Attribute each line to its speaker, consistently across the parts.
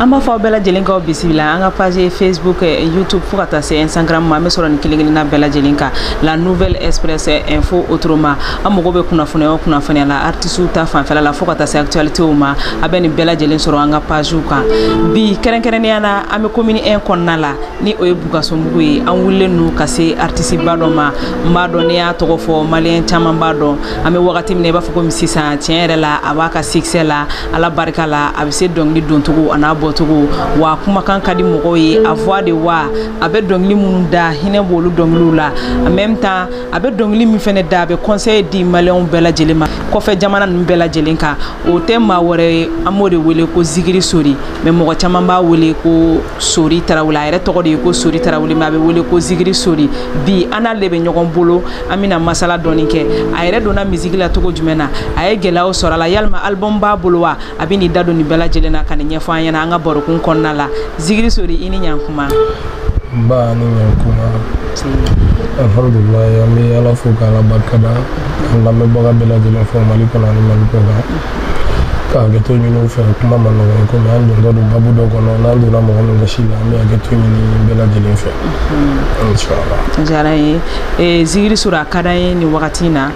Speaker 1: an b'a fɔ aw bɛɛ lajɛlen k'aw bisimila an ka page facebook eh, youtube fo ka taa se instagram ma an bɛ sɔrɔ nin kelen kelenna bɛɛ lajɛlen kan la nouvelle express eh, info autrement aw mago bɛ kunnafoniya o kunnafoniya la artisiw ta fanfɛla la fo ka taa se actualitéw ma a bɛ nin bɛɛ lajɛlen sɔrɔ an ka pagew kan bi kɛrɛnkɛrɛnnenya na an bɛ commune 1 kɔnɔna la ni o ye bukasumbugu ye an wulilen don ka se artisiba dɔ ma n b'a dɔn ni n y'a tɔgɔ fɔ maliyɛn caman b'a dɔn an bɛ wagati min na i b'a fɔ komi sisan tiɲɛ yɛrɛ la a b'a ka sikisɛ la ala barika la a bɛ se dɔnkili doncogo an'a bɔcogo wa kumakan ka di mɔgɔw ye a voix de wa a bɛ dɔnkili minnu da hinɛ b'olu dɔnkiliw la en même temps a bɛ dɔnkili min fana da a bɛ conseil di maliyɛnw bɛɛ lajɛlen ma kɔfɛ jamana ninnu bɛɛ lajɛlen kan o tɛ maa wɛrɛ ye an b'o de wele ko zigiri sori mais mɔgɔ caman b'a wele ko sori tarawele a yɛrɛ tɔgɔ de ye ko sori tarawele mais a bɛ wele ko zigiri sori bi an n'ale de bɛ ɲɔgɔn bolo an bɛna masala dɔɔni kɛ a yɛrɛ donna misiki la cogo jumɛn na a ye gɛlɛyaw sɔrɔ a la yalima album b'a bolo wa a bɛn'i da don nin bɛɛ lajɛlen na ka nin ɲɛfɔ an ɲɛna an ka barokun kɔnɔna la zigiri sori i ni ɲankuma n ba ni ɲankuma alhamdulilayi an bɛ ala fo k'ala barikada an lamɛnbaga bɛɛ lajɛlen fo mali kɔnɔ ani mali kɔkan ka hakɛto ɲini u fɛ kuma man nɔgɔ ye komi an dontɔ don babu dɔ kɔnɔ n'an donna mɔgɔ min gasi la an bɛ hakɛto ɲini bɛɛ lajɛlen fɛ a diyara n ye eh, zigiri sori a ka d'an ye nin wagati in na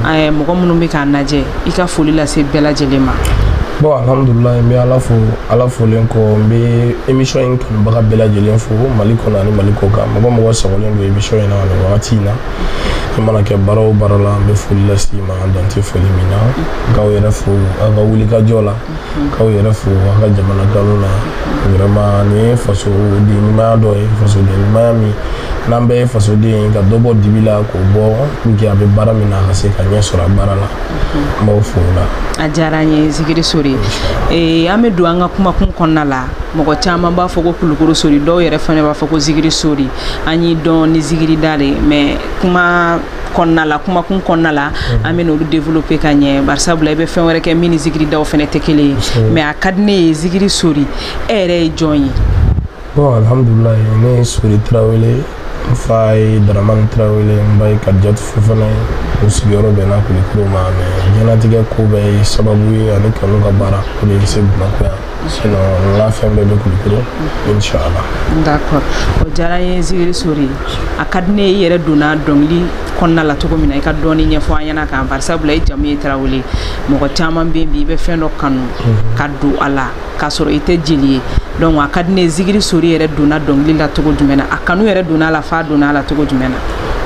Speaker 1: eh, mɔgɔ minnu bɛ k'an lajɛ i ka foli lase bɛɛ lajɛlen ma bon alhamdulilayi n bɛ ala fo ala folen kɔ n bɛ émission in kanubaga bɛɛ lajɛlen fo mali kɔnɔ ani mali kɔkan mɔgɔ o mɔgɔ sagolen don émission in na nin wagati in na i mana kɛ baara o baara la an bɛ foli lase i ma an dan tɛ foli min na k'aw yɛrɛ fo aw ka wulikajɔ la k'aw yɛrɛ fo aw ka jamana kanu na vraiment nin ye fasoden ɲumanya dɔ ye fasoden ɲumanya min n'an bɛɛ ye fasoden ye ka dɔ bɔ dibi la k'o bɔ pour que a bɛ baara min na a ka se ka ɲɛ sɔrɔ a baara la n b'aw fo o la a diyara an ye zikiri sori ee an bɛ don an ka kumakun kɔnɔna la mɔgɔ caman b'a fɔ ko kulukoro sori dɔw yɛrɛ fana b'a fɔ ko zikiri sori an y'i dɔn ni zigirida de mais kuma kɔnɔna la kumakun kɔnɔna la mhm. an bɛna olu développer ka ɲɛ bari sabula i bɛ fɛn wɛrɛ kɛ min ni zigiridaw fana tɛ kelen ye mais a ka di ne ye zigiri sori e yɛrɛ ye jɔn ye bon alhamdulilayi ne ye sori tarawele n fa ye daramani tarawele n ba ye kadijatu fofana ye u sigiyɔrɔ bɛnna kulikoro ma mais diɲɛnatigɛ ko bɛɛ ye sababu ye ani n ka n ka baara o de ye n se bamakɔ yan sinon n ka fɛn bɛɛ bɛ kulukoro inshallah d'accord o diyara n ye zikiri sori a ka di ne ye i yɛrɛ donna dɔnkili kɔnɔna la cogo min na i ka dɔɔni ɲɛfɔ an ɲɛna kan bari sabula i jamu ye tarawele mɔgɔ caman bɛ yen bi i bɛ fɛn dɔ kanu mhm. ka don a la k'a sɔrɔ i tɛ jeli ye donc a ka di ne ye zikiri sori yɛrɛ donna dɔnkili la cogo jumɛn na a kanu yɛrɛ donna a la f'a donna a la cogo jumɛn na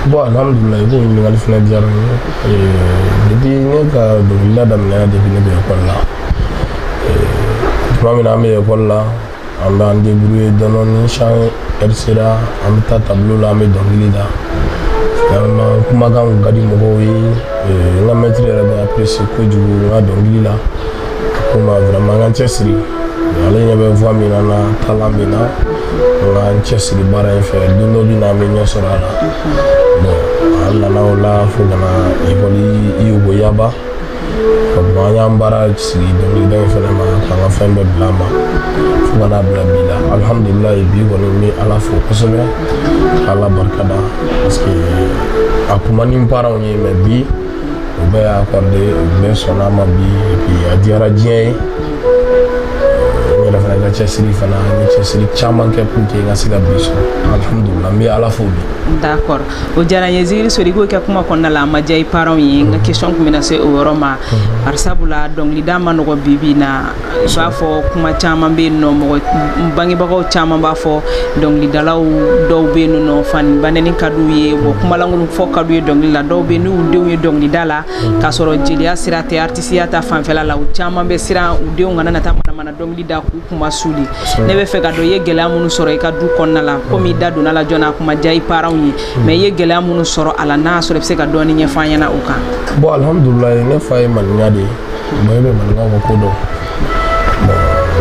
Speaker 1: bon alhamdulillah i b'o ɲininkali fana diyara n ye depuis ne ka dɔnkilida daminɛna depuis ne bɛ ekɔli la tuma min na an bɛ ekɔli la an bɛ an debrouye dɔɔnin ni chant ɛri sera an bɛ taa tabilo la an bɛ dɔnkili da kumakan ka di mɔgɔw ye n ka mɛtiri yɛrɛ b'a apprécier kojugu n ka dɔnkili la ko n ma vraiment n ka n cɛsiri ale ɲɛ bɛ voix min na na talan min na n ka n cɛsiri baara in fɛ don dɔ bɛ na an bɛ ɲɛ sɔrɔ a la bon an nana o la fo ka na ekɔli yugo yaba an y'an baara sigi dɔnkilida in fana ma k'an ka fɛn bɛɛ bila a ma fo ka n'a bila bi la alihamudulilayi bi kɔni n bɛ ala fo kosɛbɛ ala barika da parce que a kun man di n paranw ye mɛ bi u bɛɛ y'a accorder u bɛɛ sɔnna a ma bi epi a diyara diɲɛ ye n yɛrɛ fana ka cɛsiri fana n ye cɛsiri caman kɛ pour que n ka se ka bi sɔrɔ alihamudulilayi n bɛ ala fo bi d'accord o diyara n ye zikiri sori ko i ka kuma kɔnɔna la a ma diya i parents ye n ka question tun bɛna se o yɔrɔ ma bari sabula dɔnkilida ma nɔgɔ bi bi in na i b'a fɔ kuma caman bɛ yen nɔ mɔgɔ bangebagaw caman b'a fɔ dɔnkilidalaw dɔw bɛ yen nɔ fa ni ba nɛni ka d'u ye wa kumalankolon fɔ ka d'u ye dɔnkili la dɔw bɛ yen n'u denw ye dɔnkilida la k'a sɔrɔ jeliya sira tɛ artisiya ta fanfɛla la u caman bɛ siran u denw kana na taa manamana dɔnkili da k'u kunmasuuli ne bɛ fɛ ka dɔn i ye gɛlɛya minnu sɔrɔ i ka du kɔnɔna la komi i da donna a la joona a kun ma diya i paranw ye hmm. mɛ i ye gɛlɛya minnu sɔrɔ a la n'a sɔrɔ i bɛ se ka dɔɔni ɲɛfɔ an ɲɛna o kan bɔn alihamudulilayi ne fa ye maninka de ye mɔgɔ bɛ maninka ka ko dɔn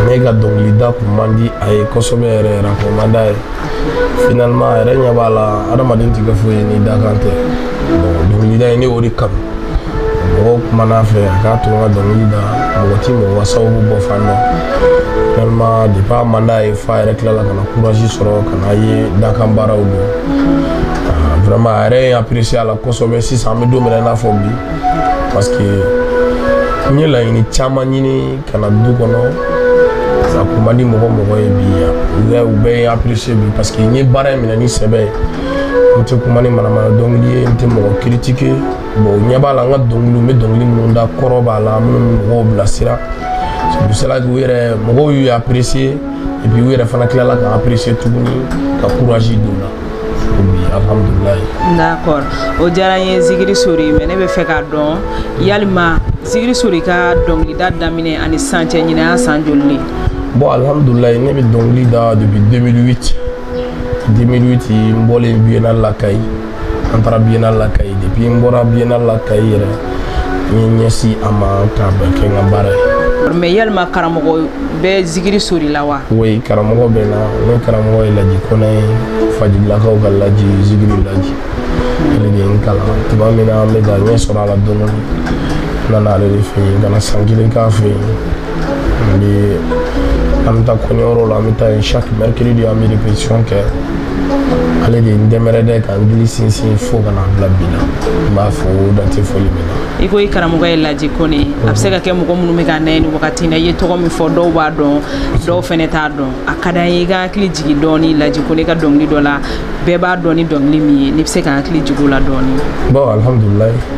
Speaker 1: ne ka dɔnkilida kun man di a ye kosɛbɛ yɛrɛ yɛrɛ a kun man d'a ye finalement a yɛrɛ ɲɛ b'a la adamaden tɛ kɛ foyi ye ni dakan tɛ dɔnkilida ye ne y'o de kanu mɔgɔw kumana a fɛ a k'a to n ka dɔnkili da mɔgɔ ti mɔgɔ ka sababu bɔ fan dɔn finalement depuis a man d'a ye f'a yɛrɛ tilala ka na courage sɔrɔ ka n'a ye dakan baaraw don ah, vraiment a yɛrɛ ye apprécier a la kosɛbɛ sisan an bɛ don min na i n'a fɔ bi parce que n ye laɲini caman ɲini ka na du kɔnɔ a kun man di mɔgɔ mɔgɔ ye bi yan u bɛɛ ye apprécié bi parce que n ye baara in minɛ ni sɛbɛ ye n tɛ kuma ni manamana dɔnkili ye n tɛ mɔgɔ critiquer bon u ɲɛ b'a la n ka dɔnkiliw n bɛ dɔnkili minnu da kɔrɔ b'a la minnu bɛ mɔgɔw bilasira c'est pour cela u yɛrɛ mɔgɔw y'u apprécier et puis u yɛrɛ fana tilala ka apprécier tuguni ka courage don n na D'accord o diyara n ye Zikiri Sori mais ne bɛ fɛ k'a dɔn yalima Zikiri Sori ka dɔnkilida daminɛ ani sisan cɛ ɲinɛn y'a san joli de ye? Bon alhamdulilayi ne bɛ dɔnkili da depuis 2008 2008 n bɔlen Biennale la Kayi an taara Biennale la Kayi depuis n bɔra Biennale la Kayi yɛrɛ n ye ɲɛsin a ma k'a bɛɛ kɛ n ka baara ye mais yalima karamɔgɔ bɛ zikiri sori la wa oui karamɔgɔ bɛ n na ne karamɔgɔ ye laji kɔnɛ ye fajilakaw ka laji zikiri laji ale de ye n kalan tuma min na an bɛ ka ɲɛ sɔrɔ a la dɔɔni n nana ale de fɛ yen ka na san kelen k'a fɛ yen Ni an bɛ taa kɔɲɔyɔrɔ la an bɛ taa yen chaque mercredi an bɛ répétition kɛ ale de ye n dɛmɛ yɛrɛ dɛ ka n gili sinsin fo ka na bila bi la n b'a fo dan tɛ foli min na i ko i karamɔgɔ ye laji kɔnɛ a bɛ se ka kɛ mɔgɔ minnu bɛ k'an lajɛ nin wagati na i ye tɔgɔ min fɔ dɔw b'a dɔn dɔw fana t'a dɔn a ka d'an ye i ka hakili jigin dɔɔni laji kɔnɛ ka dɔnkili dɔ la bɛɛ b'a dɔn ni dɔnkili min ye n'i bɛ se ka hakili jigin o la dɔɔni bon alhamdulilayi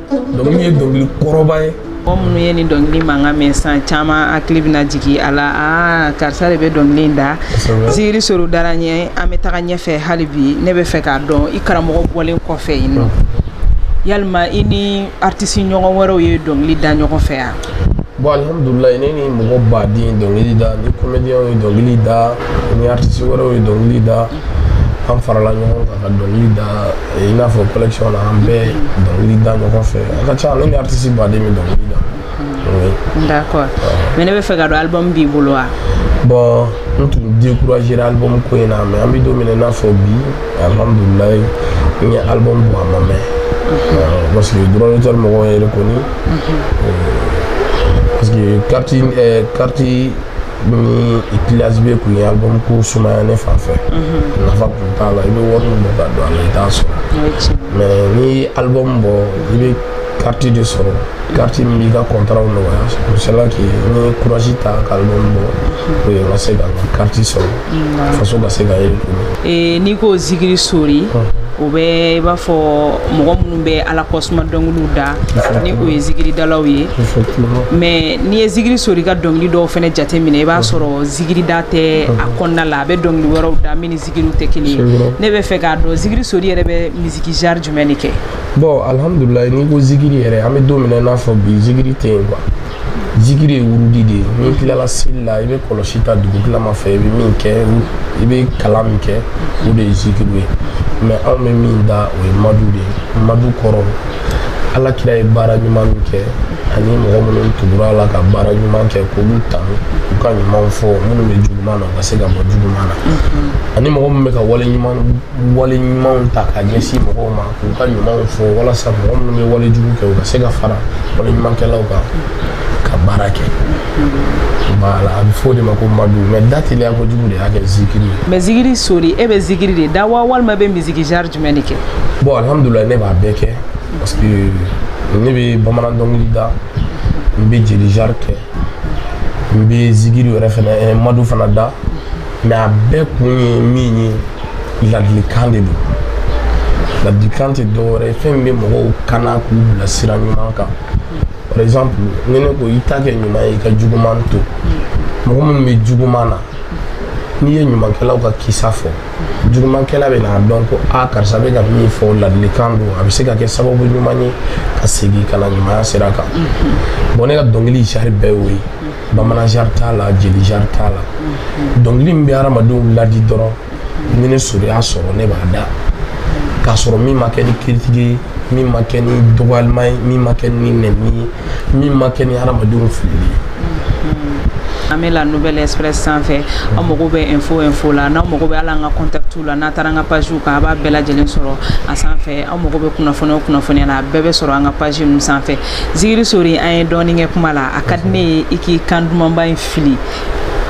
Speaker 1: dɔnkili ye dɔnkili kɔrɔba ye mɔgɔ minnu ye nin dɔnkili mankan mɛn san caman hakili bɛna jigin a la aa karisa de bɛ dɔnkili in da zikiri sori dara ɲɛ an bɛ taga ɲɛfɛ hali bi ne bɛ fɛ k'a dɔn i karamɔgɔ bɔlen kɔfɛ yen nɔ yalima i ni aritisi ɲɔgɔn wɛrɛw ye dɔnkili da ɲɔgɔn fɛ yan bon alhamdulilayi ne ni mɔgɔ baden dɔnkili da n ni komediyɛnw ye dɔnkili da n ni aritisi wɛrɛw ye dɔnkili da an farala ɲɔgɔn kan ka dɔnkili da i n'a fɔ collection na an bɛ dɔnkili da ɲɔgɔn fɛ a ka ca ne ni artiste baden bɛ dɔnkili da oui. d'accord mais ne bɛ fɛ k'a dɔn album b'i bolo wa bon n tun découragéra album ko in na mais an bɛ don min na i n'a fɔ bi alhamdulilayi n ye album bɔ a ma mɛn parce que droit d'auteur mɔgɔw ye reconnu parce que carte carte ni flash bɛɛ kun ye album ko sumaya ne fan fɛ mhm. nafa kun t'a la i bɛ wari min bɔ k'a don a la i t'a sɔrɔ mais n'i ye album bɔ i bɛ kariti de sɔrɔ kariti min b'i ka kɔntaraw nɔgɔya o sela k'i n ye kurasi ta ka album bɔ o ye n ka se ka n ka kariti sɔrɔ mhm. faso ka se ka ye eh, n'i ko zikiri sori o bɛ i b'a fɔ mɔgɔ minnu bɛ ala kɔsuma dɔnkiliw da ni o ye zikiridalaw ye mais n'i ye zikiri sori ka dɔnkili dɔw fana jate minɛ i b'a sɔrɔ zikirida tɛ a kɔnɔna la a bɛ dɔnkili wɛrɛw da min ni zikiriw tɛ kelen ye ne bɛ fɛ k'a dɔn zikiri sori yɛrɛ bɛ misiki genre jumɛn de kɛ bon alhamdulilayi n'i ko zikiri yɛrɛ an bɛ don min na i n'a fɔ bi zikiri tɛ yen quoi zikiri ye wurudi de ye n'i tilala seli la i bɛ kɔlɔsi ta dugu tilama fɛ i bɛ min kɛ i bɛ kalan min kɛ o de ye zikiri ye mɛ anw bɛ min da o ye madu de ye madu kɔrɔ ala kira ye baara ɲuman min kɛ ani mɔgɔ minnu tugura a la ka baara ɲuman kɛ k'olu ta u ka ɲumanw fɔ minnu bɛ juguman na u ka se ka bɔ juguman na ani mɔgɔ min bɛ ka wale ɲuman wale ɲumanw ta ka ɲɛsin mɔgɔw ma u ka ɲumanw fɔ walasa mɔgɔ minnu bɛ wale jugu kɛ u ka se ka fara wale ɲumankɛlaw kan ka baara kɛ voilà a bɛ fɔ o de ma ko madu mɛ da teliya kojugu de y'a kɛ zikiri ye mɛ zikiri sori e bɛ zikiri de da wa walima bɛ misiki genre jumɛn de kɛ bon alhamdulilayi ne b'a bɛɛ kɛ parce que ne bɛ bamanan dɔnkili da n bɛ jeli genre kɛ n bɛ zikiri yɛrɛ fana eh, madu fana da mɛ a bɛɛ kun ye min ye ladilikan de don ladilikan tɛ dɔwɛrɛ ye fɛn min bɛ mɔgɔw kana k'u bila sira ɲuman kan par exemple ni ne ko i ta kɛ ɲuman ye i ka juguman to mɔgɔ minnu bɛ juguman na n'i ye ɲumankɛlaw ka kisa fɔ jugumankɛla bɛ n'a dɔn ko a karisa bɛ ka min fɔ ladilikan don a bɛ se ka kɛ sababu ɲuman ye ka segin ka na ɲumanya sira kan bɔn ne ka dɔnkili genre bɛɛ y'o ye bamanan genre t'a la jeli genre t'a la dɔnkili min bɛ hadamadenw ladi dɔrɔn ni ne sori y'a sɔrɔ ne b'a da k'a sɔrɔ min ma kɛ ni critique ye min ma kɛ ni dɔgɔyalima ye min ma kɛ ni nɛni ye min ma kɛ ni hadamadenw filili ye an bɛ la nouvelle express sanfɛ aw mago bɛ info o info la n'aw mago bɛ a la an ka contactw la n'a taara an ka page kan a b'a bɛɛ lajɛlen sɔrɔ a sanfɛ aw mago bɛ kunnafoni o kunnafoniya la a bɛɛ bɛ sɔrɔ an ka page ninnu sanfɛ Zikiri sori an ye dɔɔnin kɛ kuma la a ka di ne ye i k'i kan dumanba in fili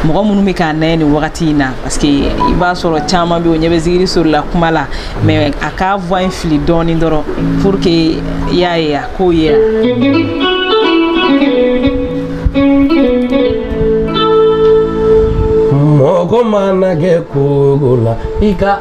Speaker 1: mɔgɔ minnu bɛ k'an lajɛ nin wagati in na parce que i b'a sɔrɔ caman bɛ o ɲɛ bɛ zikiri sori la kuma la mɛ a ka voix in fili dɔɔnin dɔrɔn pour que i y'a ye a k'o ye mɔgɔ mana kɛ ko la i ka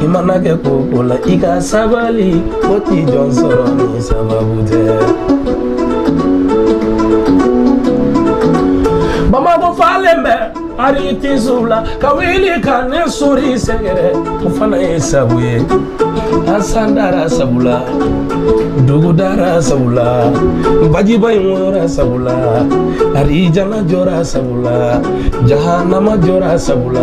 Speaker 1: i mana kɛ ko o ko la i ka sabali ko tɛ jɔn sɔrɔ ni sababu tɛ bamakɔ falen bɛ aritisiw la ka wuli ka ne sori sɛgɛrɛ o fana ye sabu ye a san dara sabu la dugu dara sabu la bajiba in woyora sabu la arijana jɔra sabu la jahanama jɔra sabu la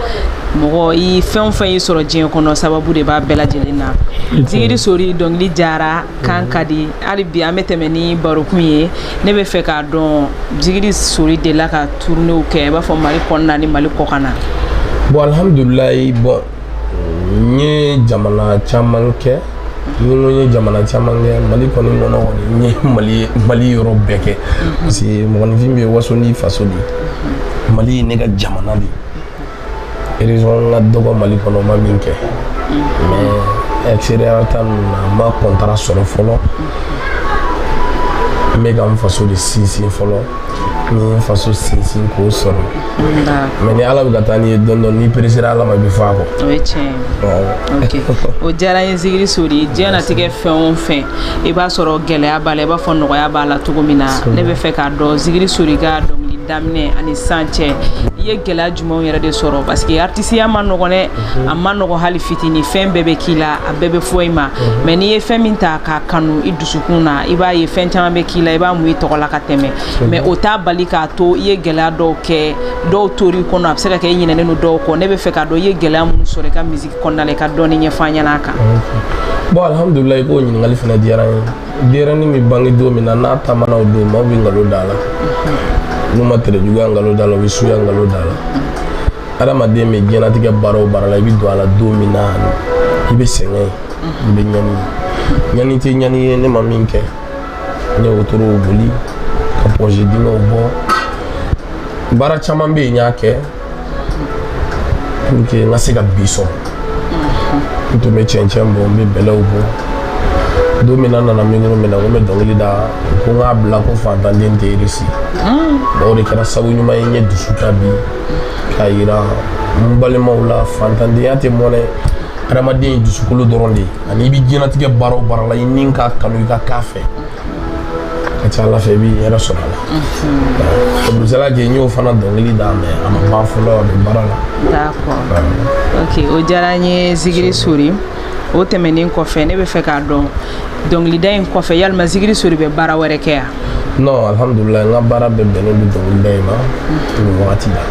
Speaker 1: mɔgɔ i fɛn o fɛn y'i sɔrɔ diɲɛ kɔnɔ sababu de b'a bɛɛ lajɛlen na zigiri sori dɔnkili jara kan ka di hali bi an bɛ tɛmɛ ni barokun ye ne bɛ fɛ k'a dɔn zigiri sori delila ka tournéew kɛ i b'a fɔ mali kɔnɔna ni mali kɔkan na bon alhamdulilayi bon n ye jamana caman kɛ ni ko n ye jamana caman kɛ mali kɔni kɔnɔ kɔni n ye mali mali yɔrɔ bɛɛ kɛ parce que mɔgɔninfin bɛ waso n'i faso de mali ye ne ka jamana de ye région ka dɔgɔ mali kɔnɔ n ma min kɛ mais extérieur ta ninnu na n ma contrat sɔrɔ fɔlɔ n bɛ ka n faso de sinsin fɔlɔ ni n faso sinsin k'o sɔrɔ mais ni ala bɛ ka taa n'i ye dɔɔni dɔɔni n'i peresera ala ma i bɛ fɔ a kɔ o ye tiɲɛ o diyara n ye zigiri sori diɲɛnatigɛ fɛn o fɛn i b'a sɔrɔ gɛlɛya b'a la i b'a fɔ nɔgɔya b'a la cogo min na ne bɛ fɛ k'a dɔn zigiri sori ka dɔnkili daminɛ ani sisan cɛ i ye gɛlɛya jumɛnw yɛrɛ de sɔrɔ parce que artisiya man nɔgɔn dɛ a man nɔgɔn hali fitini fɛn bɛɛ bɛ k'i la a bɛɛ bɛ fɔ i ma mais n'i ye fɛn min ta k'a kanu i dusukun na i b'a ye fɛn caman bɛ k'i la i b'a mun i tɔgɔ la ka tɛmɛ mais o t'a bali k'a to i ye gɛlɛya dɔw kɛ dɔw tor'i kɔnɔ a bɛ se ka kɛ i ɲinɛnen don dɔw kɔ ne bɛ fɛ k'a dɔn i ye gɛlɛya minnu sɔrɔ i ka misiki kɔnɔna la i ka dɔɔni ɲɛfɔ an ɲɛna a kan bon alhamdulilayi i k'o ɲininkali fana diyara n ye Dennin bɛ bange don min na n'a taama don maaw bɛ nkalon d'a la n'u ma terejuguya nkalon d'a la u bɛ suya nkalon d'a la adamaden bɛ diɲɛlatigɛ baara o baara la i bɛ don a la don min na i bɛ sɛgɛn i bɛ ɲani ɲani tɛ ɲani ye ne ma min kɛ n ye wotoro boli ka pɔsi dunw bɔ baara caman bɛ yen n y'a kɛ pour que n ka se ka bi sɔrɔ n tun bɛ cɛncɛn bɔ n bɛ bɛlɛw bɔ don min na n nana micro mina ko n bɛ dɔnkili da ko n k'a bila ko fantanden tɛ réussir o de kɛra sabu ɲuman ye n ye dusu ta bi k'a yira n balimaw la fantandenya tɛ mɔnɛ adamaden ye dusukolo dɔrɔn de ye ani i bɛ diɲɛlatigɛ baara o baara la i ni k'a kanu i ka k'a fɛ ka ca ala fɛ i b'i yɛrɛ sɔrɔ a la abudusala kɛ n y'o fana dɔnkili da mais a ma ban fɔlɔ a bɛ baara la d'accord ok o diyara n ye zigiri sori o tɛmɛnen kɔfɛ ne bɛ fɛ k'a dɔn dɔnkilida in kɔfɛ yalima zigiri sori bɛ baara wɛrɛ kɛ yan non alhamdulilayi n ka baara bɛɛ bɛnnen don dɔnkilida in ma nin wagati la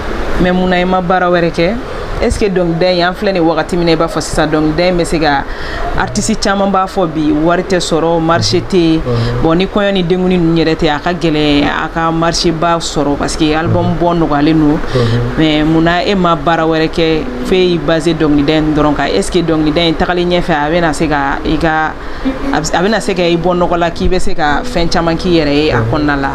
Speaker 1: mais mun na i ma baara wɛrɛ kɛ est ce que dɔnkilida in an filɛ nin wagati min na i b'a fɔ sisan dɔnkilida in bɛ se ka artisi caman b'a fɔ bi wari tɛ sɔrɔ marché tɛ yen bon ni kɔɲɔ ni denkundi ninnu yɛrɛ tɛ a ka gɛlɛn a ka marché ba sɔrɔ parce que album bɔ nɔgɔyalen don mais mun na e ma baara wɛrɛ kɛ fo e y'i base dɔnkilida in dɔrɔn kan est ce que dɔnkilida in taalen ɲɛfɛ a bɛna se ka i ka a bɛna se ka i bɔ nɔgɔ la k'i bɛ se ka fɛn caman k'i yɛrɛ ye a kɔnɔna la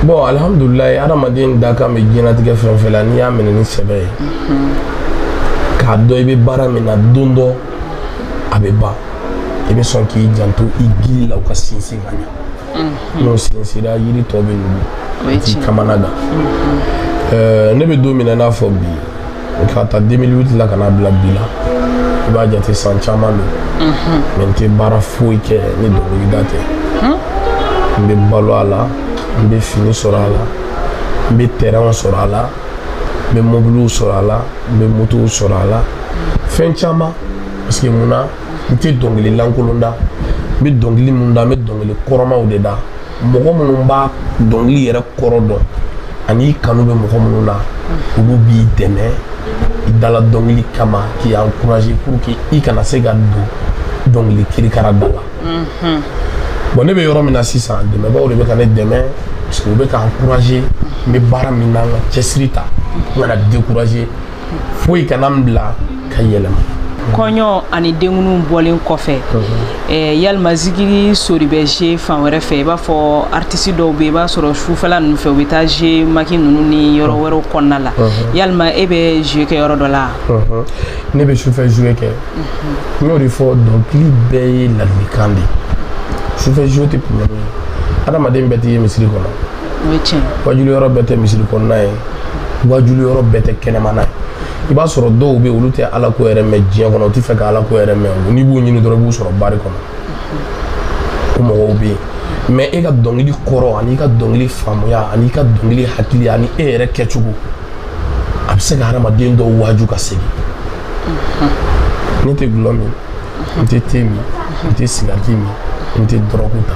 Speaker 1: bɔn alihamudulila adamaden dakan bɛ diɲɛnatigɛ fɛn o fɛn la n'i y'a minɛ ni sɛbɛ ye k'a dɔn i bɛ baara min na don dɔ a bɛ ban i bɛ sɔn k'i janto i gili la u ka sinsin ka ɲɛ n'o sinsira yiri tɔ bɛ nugu k'i kamana gan ne bɛ don min na i n'a fɔ bi o k'a ta 2008 la ka n'a bila bi la i b'a jate san caman don mais n tɛ baara foyi kɛ ni dɔnkilida tɛ n bɛ balo a la n bɛ fini sɔrɔ a la n bɛ terɛnw sɔrɔ a la n bɛ mobiliw sɔrɔ a la n bɛ motow sɔrɔ a la fɛn caman parce que mun na n tɛ dɔnkili lankolon da n bɛ dɔnkili mun da n bɛ dɔnkili kɔrɔmaw de da mɔgɔ minnu b'a dɔnkili yɛrɛ kɔrɔ dɔn an'i kanu bɛ mɔgɔ minnu na olu b'i dɛmɛ i dala dɔnkili kama k'i encourager pour que i kana se ka don dɔnkili kirikara da la mhm. bon ne bɛ yɔrɔ min na sisan dɛmɛbaaw de bɛ ka ne dɛmɛ parce que u bɛ ka encourager n bɛ baara min na n ka cɛsiri ta n kana décourager foyi kana n bila ka yɛlɛma kɔɲɔ ani denkundiw bɔlen kɔfɛ eh, yalima zigiri sori bɛ zuwe fan wɛrɛ fɛ i b'a fɔ artisi dɔw bɛ i b'a sɔrɔ sufɛla ninnu fɛ u bɛ taa zuwe maki ninnu ni yɔrɔ wɛrɛw kɔnɔna la yalima e bɛ zuwe kɛ yɔrɔ dɔ la ne bɛ sufɛ zuwe kɛ n y'o de fɔ dɔnkili bɛɛ ye ladilikan de ye sufɛ zuwe tɛ problème ye adamaden bɛɛ tɛ ye misiri kɔnɔ waajuli yɔrɔ bɛɛ tɛ misiri kɔnɔna ye waajuli yɔrɔ bɛɛ tɛ kɛnɛmana ye i b'a sɔrɔ dɔw bɛ olu tɛ ala ko yɛrɛ mɛn diɲɛ kɔnɔ u tɛ fɛ ka ala ko yɛrɛ mɛn n'i b'u ɲini dɔrɔn i b'u sɔrɔ bari kɔnɔ o mɔgɔw bɛ yen mais e ka dɔnkili kɔrɔ an'i ka dɔnkili faamuya an'i ka dɔnkili hakili ani e yɛrɛ kɛcogo a bɛ se ka hadamaden dɔw waaju ka segin ne tɛ gulɔ min n tɛ te min n tɛ sigariti min n tɛ dɔrɔgu ta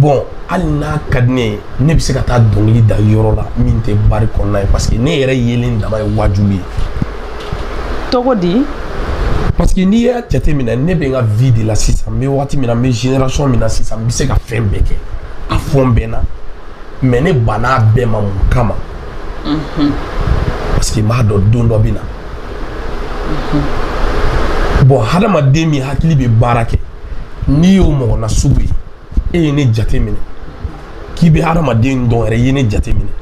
Speaker 1: bɔn hali n'a ka di ne ye ne bɛ se ka taa dɔnkili da yɔrɔ la min tɛ bari kɔnɔna ye parce que ne yɛrɛ yelen dama ye waajuli ye togo di parce que n'i y'a jateminɛ ne bɛ n ka vie de la sisan n bɛ wagati min na n bɛ génération min na sisan n bɛ se ka fɛn bɛɛ kɛ a fan bɛɛ na mais ne banna a bɛɛ ma mun kama mhm. parce que n b'a dɔn don dɔ bɛ na mhm. bɔn hadamaden min hakili bɛ baara kɛ n'i y'o mɔgɔ nasugu ye e ye ne jate minɛ k'i bɛ hadamaden dɔn yɛrɛ i ye ne jate minɛ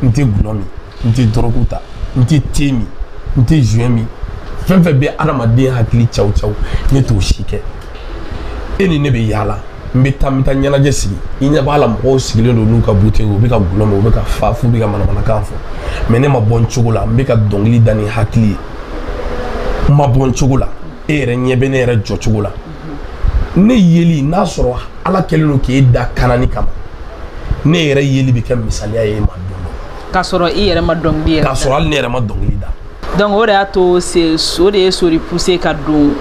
Speaker 1: n tɛ gulɔ min n tɛ dɔrɔgu ta n tɛ te min n tɛ joint min fɛn o fɛn bɛ hadamaden hakili caw caw ne t'o si kɛ e ni ne bɛ yaala n bɛ taa n bɛ taa ɲɛnajɛ sigi i ɲɛ b'a la mɔgɔw sigilen don n'u ka bouteille u bɛ ka gulɔ min u bɛ ka fa f'u bɛ ka manamanakan fɔ mais ne ma bɔ n cogo la n bɛ ka dɔnkili da ni hakili ye n ma bɔ n cogo la e yɛrɛ ɲɛ bɛ ne yɛrɛ jɔ cogo la ne yeli n'a sɔrɔ ala kɛlen don k'e da kanani kama ne yɛrɛ yeli bɛ kɛ misaliya ye e ma don dɔ k'a sɔrɔ i yɛrɛ ma dɔnkili yɛrɛ k'a sɔrɔ hali ne yɛrɛ ma dɔnkili da donc o de y'a to o de ye sori pousser ka don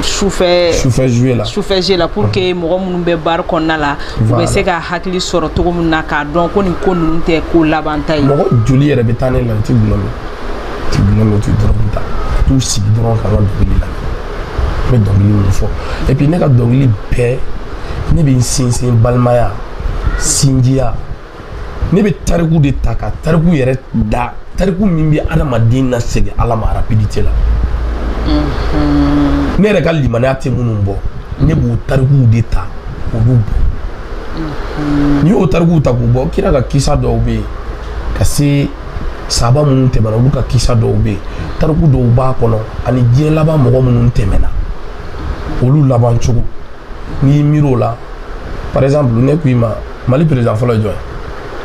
Speaker 1: sufɛ sufɛ jouer la sufɛ jouer la pour que mhm. mɔgɔ minnu bɛ bari kɔnɔna la u bɛ se ka hakili sɔrɔ cogo min na k'a dɔn ko nin ko ninnu tɛ ko labanta ye mɔgɔ joli yɛrɛ bɛ taa ne la u tɛ gulɔ min ti bolo ti dɔrɔgu ta t'u sigi dɔrɔn ka ka dɔnkili la n bɛ dɔnkili min fɔ et puis ne ka dɔnkili bɛɛ ne bɛ n sinsin balimaya sinjiya ne bɛ tariku de ta ka tariku yɛrɛ da tariku min bɛ adamaden lasegin ala ma rapidité la mm-hmm. ne yɛrɛ ka limaniya tɛ minnu bɔ ne b'o tarikuw de ta k'olu bɔ mm-hmm. n'i y'o tarikuw ta k'u bɔ kira ka kisa dɔw bɛ yen ka se saaba minnu tɛmɛna olu ka kisa dɔw bɛ yen tariku dɔw b'a kɔnɔ ani diɲɛ laban mɔgɔ minnu tɛmɛna olu laban cogo n'i y'i miiri o la par exemple ne ko i ma mali président fɔlɔ ye jɔn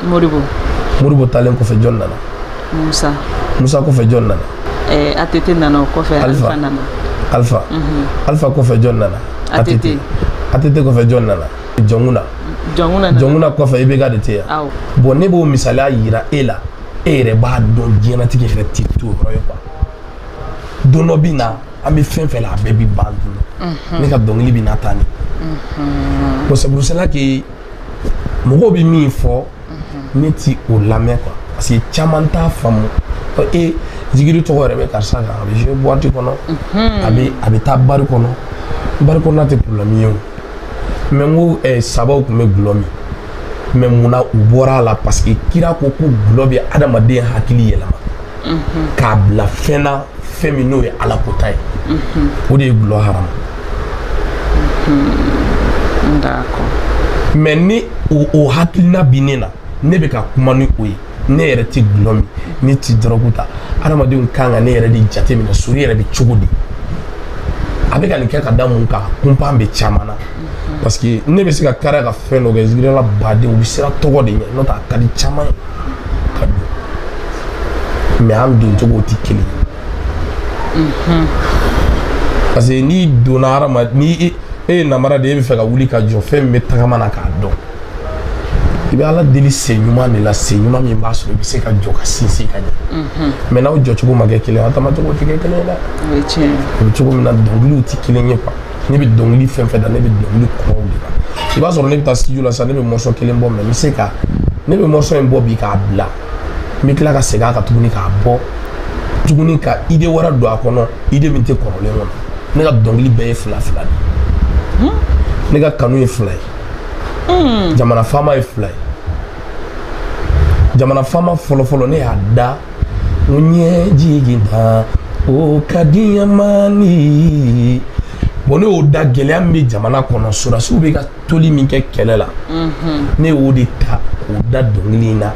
Speaker 1: ye modibo modibo taalen kɔfɛ jɔn nana musa musa kɔfɛ jɔn nana eh, atete nana o kɔfɛ alpha nana alpha mm -hmm. alpha kɔfɛ jɔn nana atete atete kɔfɛ jɔn nana jɔnkunda jɔnkunda kɔfɛ ibeka de tɛ yan bon ne b'o misaliya yira e la e yɛrɛ b'a dɔn diɲɛnatigɛ yɛrɛ ti to yɔrɔ ye quoi don dɔ bɛ na an bɛ fɛn fɛn la a bɛɛ bɛ ban donc ne ka dɔnkili bɛ na tan de bɔn saburusala ke mɔgɔw bɛ min fɔ ne tɛ o lamɛn quoi parce que caman t'a faamu ko e zikiri tɔgɔ yɛrɛ bɛ karisa kan a bɛ jouer boîte kɔnɔ a bɛ a bɛ taa bari kɔnɔ bari kɔnɔna tɛ problème ye o mais n ko ɛ saabaw tun bɛ gulɔ min mais mun na u bɔra a la parce que kira ko ko gulɔ bɛ adamaden hakili yɛlɛma. k'a bila fɛn na fɛn min n'o ye ala kɔnta ye o de ye gulɔ haramu mais ni o hakilina bi ne na ne bɛ ka kuma ni o ye ne yɛrɛ tɛ gulɔ min ne tɛ dɔrɔgu ta adamadenw ka kan ka ne yɛrɛ de jate minɛ sori yɛrɛ bɛ cogo di a bɛ ka nin kɛ ka da mun kan kunpan bɛ caman na parce que ne bɛ se ka kari ka fɛn dɔ kɛ zikirila badenw bɛ siran tɔgɔ de ɲɛ n'o tɛ a ka di caman ye ka don mais an don cogo tɛ kelen ye mhm. parce que n'i donna hadamaden ni e, e ye namara de ye e bɛ fɛ ka wuli ka jɔ fɛn min bɛ tagama na k'a dɔn i bɛ ala deli sen ɲuman de la sen ɲuman min b'a sɔrɔ i bɛ se ka jɔ ka sinsin ka ɲɛ mhm. mais n'aw jɔcogo ma kɛ kelen ye aw taamacogo tɛ kɛ kelen ye dɛ o ye tiɲɛ ye o bɛ cogo min na dɔnkiliw tɛ kelen ye quoi. ne bɛ dɔnkili fɛn fɛn da ne bɛ dɔnkili kɔrɔw de da i b'a sɔrɔ ne bɛ taa studio la sisan ne bɛ morceau kelen bɔ mais n bɛ se ka ne bɛ morceau in bɔ bi k'a bila n bɛ tila ka segin a kan tuguni k'a bɔ tuguni ka ide wɛrɛ don a kɔnɔ ide min tɛ kɔrɔlen kɔnɔ ne ka dɔnkili bɛɛ ye fila fila de ne ka kanu ye fila ye jamana faama ye fila ye jamana faama fɔlɔfɔlɔ ne y'a da ne jigi ta o ka diɲɛ man di bon ne y'o da gɛlɛya min bɛ jamana kɔnɔ sɔrɔdasiw bɛ ka toli min kɛ kɛlɛ la ne y'o de ta k'o da dɔnkili in na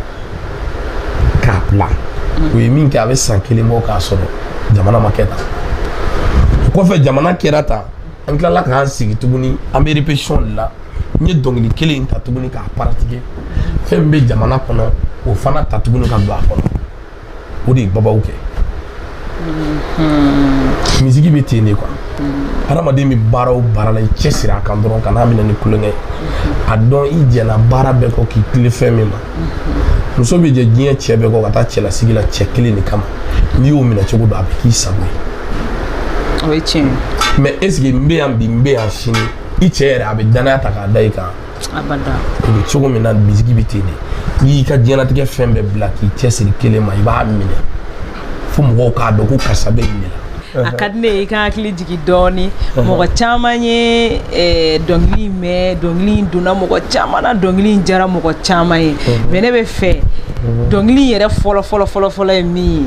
Speaker 1: k'a bila o ye min kɛ a bɛ san kelen bɔ k'a sɔrɔ jamana ma kɛ tan o kɔfɛ jamana kɛra tan an tilala k'an sigi tuguni an bɛ répétition de la n ye dɔnkili kelen in ta tuguni k'a paratike fɛn min bɛ jamana kɔnɔ o fana ta tuguni ka don a kɔnɔ o de ye babaw kɛ mm-hmm. misiki bɛ ten de quoi mm-hmm. hadamaden bɛ baara o baara la i cɛ siri a kan dɔrɔn kan'a minɛ ni tulonkɛ ye mm-hmm. a dɔn i jɛna baara bɛɛ kɔ k'i tilen fɛn min ma muso bɛ jɛn diɲɛ cɛ bɛɛ kɔ ka taa cɛlasigi la cɛ kelen de kama n'i y'o minɛ cogo dɔ a bɛ k'i sago ye o ye tiɲɛ ye mais est-ce que n bɛ yan bi n bɛ yan sini i cɛ yɛrɛ a bɛ danaya ta k'a da i kan o bɛ cogo min na misiki bɛ ten de n'i y'i ka diɲɛlatigɛ fɛn bɛɛ bila k'i cɛsiri kelen ma i b'a minɛ fo mɔgɔw k'a dɔn ko karisa bɛ nin de la a ka di ne ye i k'an hakili jigin dɔɔni mɔgɔ caman ye eh, dɔnkili in mɛn dɔnkili in donna mɔgɔ caman na dɔnkili in jara mɔgɔ caman ye mais ne b'a fɛ dɔnkili in yɛrɛ fɔlɔ fɔlɔ fɔlɔ fɔlɔ ye min ye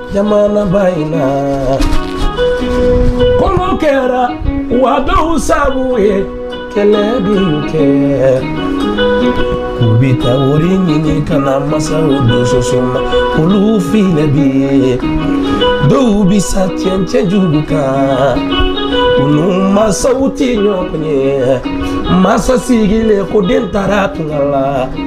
Speaker 1: jamana ba in na kolo kɛra wa dɔw sago ye kɛlɛ bɛ kɛ u bɛ taa wari ɲini ka na masaw don soso ma olu filɛ bi ye dɔw bɛ sa cɛncɛn jugu kan olu masaw tɛ ɲɔgɔn ye masa sigilen ko den taara tunga la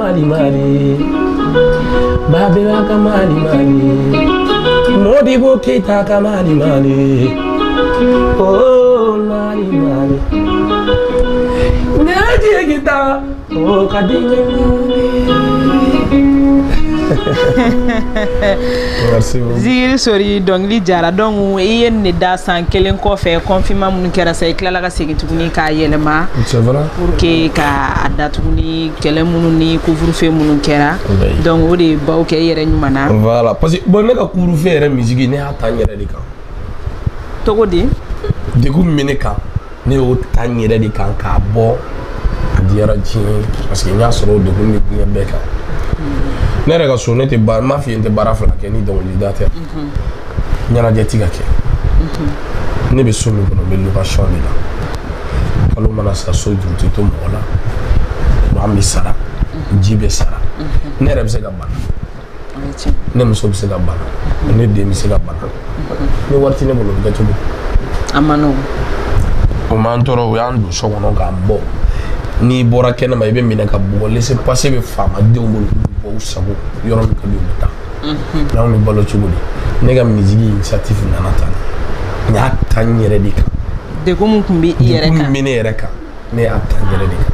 Speaker 1: mali mali babɛmba ka mali mali modibo keyita ka mali mali oh mali mali ne jigi ta o ka di n ziri sori dɔnkili jara donc i ye nin da san kelen kɔfɛ confinement minnu kɛra sa i tilala ka segin tuguni k'a yɛlɛma pour que ka a da tuguni kɛlɛ minnu ni couvre-feu minnu kɛra donc o de ye baw kɛ i yɛrɛ ɲuman na voilà parce que bon ne ka couvre-feu yɛrɛ misiki ne y'a ta n yɛrɛ de kan cogo di degun min bɛ ne kan ne y'o ta n yɛrɛ de kan k'a bɔ a diyara diɲɛ parce que n y'a sɔrɔ o degun bɛ diɲɛ bɛɛ kan ne yɛrɛ ka so ne tɛ baara n m'a f'i ye n tɛ baara fila kɛ ni dɔnkilida tɛ ɲɛnajɛ ti ka kɛ mhm. ne bɛ so min kɔnɔ n bɛ location de la kalo mana sa so juru tɛ to mɔgɔ la maa bɛ sara mhm. ji bɛ sara mhm. ne yɛrɛ bɛ se ka bana ne muso bɛ se ka bana ne den bɛ se ka bana ni wari tɛ ne bolo bɛ kɛ cogo a man nɔgɔn o m'an tɔɔrɔ o y'an don so kɔnɔ k'an bɔ n'i bɔra kɛnɛma i bɛ minɛ ka bugɔ laissez passer bɛ faamadenw bolo k'u bɔ u sago yɔrɔ min ka di u bɛ taa n'anw bɛ balo cogo di ne ka misigi initiative nana tan n y'a ta n yɛrɛ de kan degun min tun bɛ i yɛrɛ degun min kan bɛ ne yɛrɛ kan ne y'a ta n yɛrɛ de kan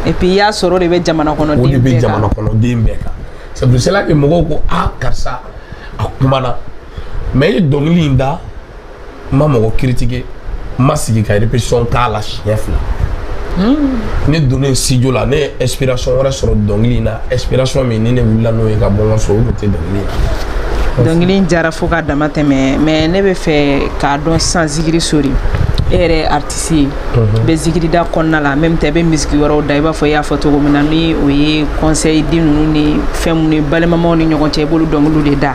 Speaker 1: et puis i y'a sɔrɔ o de bɛ jamana o de kɔnɔden bɛ bɛɛ kan jamana kɔnɔden bɛɛ kan c'est pour cela que mɔgɔw ko a karisa a kumana mais i ye dɔnkili in da n ma mɔgɔ critiquer n ma sigi ka répétition k'a la siɲɛ fila ne donnen studio la ne ye inspiration wɛrɛ sɔrɔ dɔnkili in na inspiration min ni ne wulila n'o ye ka bɔ n ka so o tun tɛ dɔnkili ye dɔnkili in diyara fo ka damatɛmɛ mais ne b'a fɛ k'a dɔn sisan zikiri sori e yɛrɛ ye artiste ye i bɛ zikiri da corona la même tɛ i bɛ misiki wɛrɛw da i b'a fɔ i y'a fɔ cogo min na ni o ye conseil di ninnu ni fɛn minnu ye balimamaw ni ɲɔgɔn cɛ i b'olu dɔnkiliw de da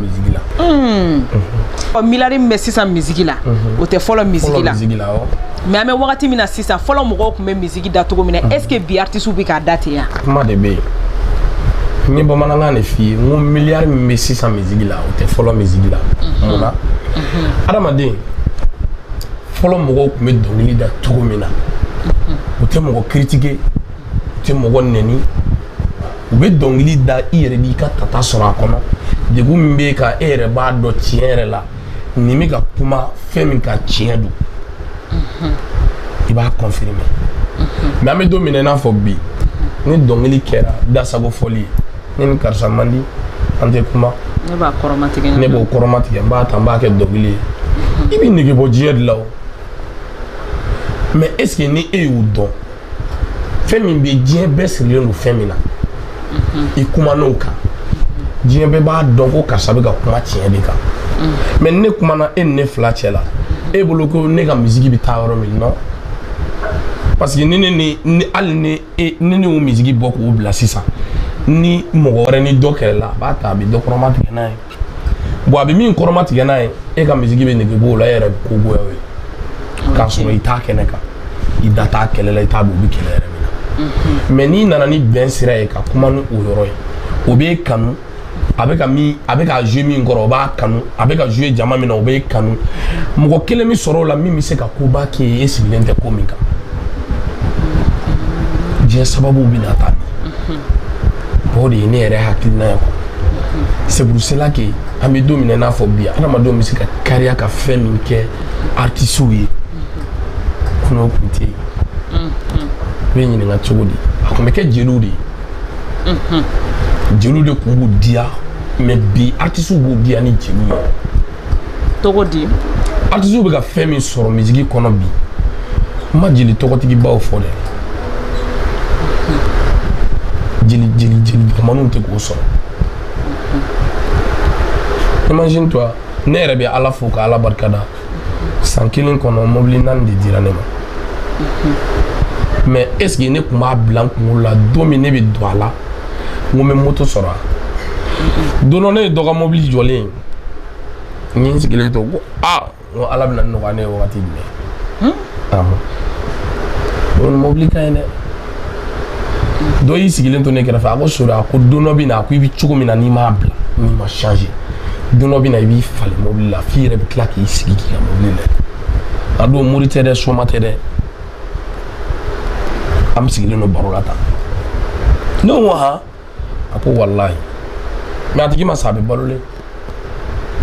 Speaker 1: musique la unhun ɔ miliyari min bɛ sisan misiki la o tɛ fɔlɔ misiki la musique la awɔ mais an bɛ wagati min na sisan fɔlɔ mɔgɔw tun bɛ misiki da cogo min na est ce que bi artisiw bɛ k'a da ten ya kuma de bɛ yen n ye bamanankan de f'i ye n ko miliyari min bɛ sisan misiki la o tɛ fɔlɔ misiki la mun na adamaden fɔlɔ mɔgɔw tun bɛ dɔnkili da cogo min na u tɛ mɔgɔ critiquer tɛ mɔgɔ nɛni u bɛ dɔnkili da i yɛrɛ b'i ka tata sɔrɔ a kɔnɔ degun min b'e kan e yɛrɛ b'a dɔn tiɲɛ yɛrɛ la nin bɛ ka kuma fɛn min kan tiɲɛ don i b'a confirmer mais an bɛ don min na i n'a fɔ bi ni dɔnkili kɛra dasago fɔli ye ne ni karisa man di an tɛ kuma ne b'o kɔrɔmatigɛ n b'a ta n b'a kɛ dɔnkili ye i bɛ nege bɔ diɲɛ de la o mais est ce que ni e y'u dɔn fɛn min bɛ diɲɛ bɛɛ sirilen don fɛn min na i kuma n'o kan diɲɛ bɛɛ b'a dɔn ko karisa bɛ ka kuma tiɲɛ de kan mais ne kumana e ni ne fila cɛ la e bolo ko ne ka misiki bɛ taa yɔrɔ min non parce que ni ne ni ni hali ni e ni ne y'o misiki bɔ k'o bila sisan ni mɔgɔ wɛrɛ ni dɔ kɛlɛ la a b'a ta a bɛ dɔ kɔrɔmatigɛ n'a ye bon a bɛ min kɔrɔmatigɛ n'a ye e ka misiki bɛ nege b'o la e yɛrɛ bɛ ko goya o ye k'a sɔrɔ i t'a kɛnɛ kan i da t'a kɛlɛ la i t'a dɔn u bɛ kɛlɛ yɛrɛ min na mais n'i nana ni bɛn sira ye ka kuma ni o yɔrɔ ye o b'e kanu a bɛ ka min a bɛ ka jouer min kɔrɔ o b'e kanu a bɛ ka jouer jama min na o b'e kanu mɔgɔ kelen bɛ sɔrɔ o la min bɛ se ka koba k'e ye e sigilen tɛ ko min kan diɲɛ sababu bɛ na taa o de ye ne yɛrɛ hakilina ye c'est pour cela que an bɛ don min na i n'a fɔ bi adamadenw bɛ se ka kariya ka fɛn min kɛ artisiw ye kunun o tun tɛ yen n bɛ ɲininka cogo di a tun bɛ kɛ jeliw de ye jeliw de tun b'u diya mais bi artisiw b'u diya ni jeliw ye tɔgɔ di artisiw bɛ ka fɛn min sɔrɔ misiki kɔnɔ bi n ma jeli tɔgɔtigibaw fɔ dɛ jeli jeli jeli dɔgɔmanninw tɛ k'o sɔrɔ imagine toi ne yɛrɛ bɛ ala fo ka ala barika da san kelen kɔnɔ mobili naani de dira ne ma mais est ce que ne tun b'a bila n kunkolo la don min ne bɛ don a la n ko n bɛ moto sɔrɔ a don dɔ ne ye dɔ ka mobili jɔlen ye N sigilen to ko ko ala bɛn'a nɔgɔya ne ye waati jumɛn mɔbili ka ɲi dɛ dɔ y'i sigilen to ne kɛrɛfɛ a ko so a ko don bɛ na a ko i bɛ cogo min na n'i m'a bila n'i ma change don bɛ na i b'i falen mɔbili la f'i yɛrɛ bɛ tila k'i sigi k'i ka mɔbili lajɛ a dun mori tɛ dɛ soma tɛ dɛ an bɛɛ sigilen don baro la tan ne ko han a ko walayi mais a tigi ma sa a bɛ balolen